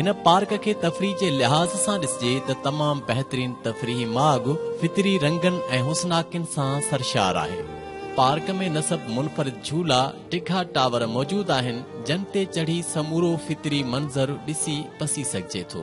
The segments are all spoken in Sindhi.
هن پارڪ کي تفريح جي لحاظ سان ڏسجي ته تمام بهترين تفريحي ماڳ فطري رنگن ۽ حسناڪين سان سرشار آهي. پارڪ ۾ نصب منفرد جھولا، ڊگھا ٽاور موجود آهن جن تي چڙهي سمورو فطري منظر ڏسي پسي سگھجي ٿو.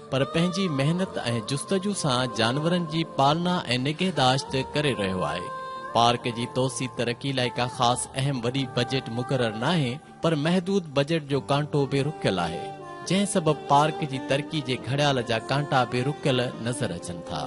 پر پنهنجي محنت ۽ جستجو سان جانورن جي پالنا ۽ نگهداشت ڪري رهيو آهي. پارڪ جي توسيع ترقي لاء ڪا خاص اهم وڏي بجيٽ مقرر ناهي پر محدود بجيٽ جو ڪانٽو به رڪيل آهي جنهن سبب پارڪ جي ترقي جي گهڙيال جا ڪانٽا به رڪيل نظر اچن ٿا.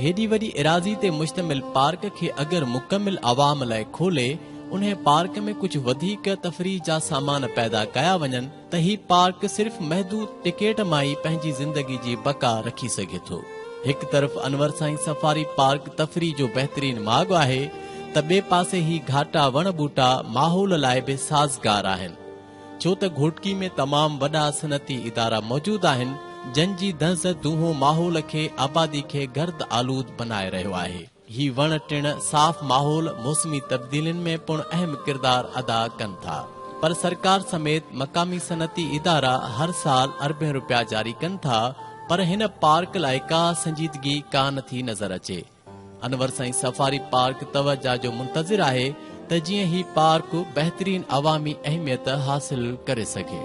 هيڏي وڏي ايراضي تي مشتمل پارڪ کي اگر مڪمل عوام لاء کولي انهي پارڪ ۾ ڪجهه وڌيڪ تفريح جا سامان پيدا ڪيا وڃن ته هي پارڪ صرف محدود ٽڪيٽ مان ئي پنهنجي زندگي جي بقا رکي سگهي ٿو. هڪ طرف انور سائين سفاري پارڪ تفريح جو بهترين ماڳ آهي ته ٻئي پاسي هي گهاٽا وڻ ٻوٽا ماحول لاء به سازگار آهن ڇو ته گهوٽڪي ۾ تمام وڏا صنعتي ادارا موجود آهن جن جي دنس دونهون ماحول کي آبادي کي گرد آلود بنائي رهيو آهي. هي وڻ ٽڻ صاف ماحول موسمي تبديلين ۾ پڻ اهم ڪردار ادا ڪن ٿا پر سرڪار سميت مقامي صنعتي ادارا هر سال اربين روپيا جاري ڪن ٿا پر هن پارڪ لاء ڪا سنجيدگي ڪا نه ٿي نظر اچي انور سائين سفاري پارڪ توجه جو منتظر آهي ته جيئن هي پارڪ بهترين عوامي اهميت حاصل ڪري سگهي.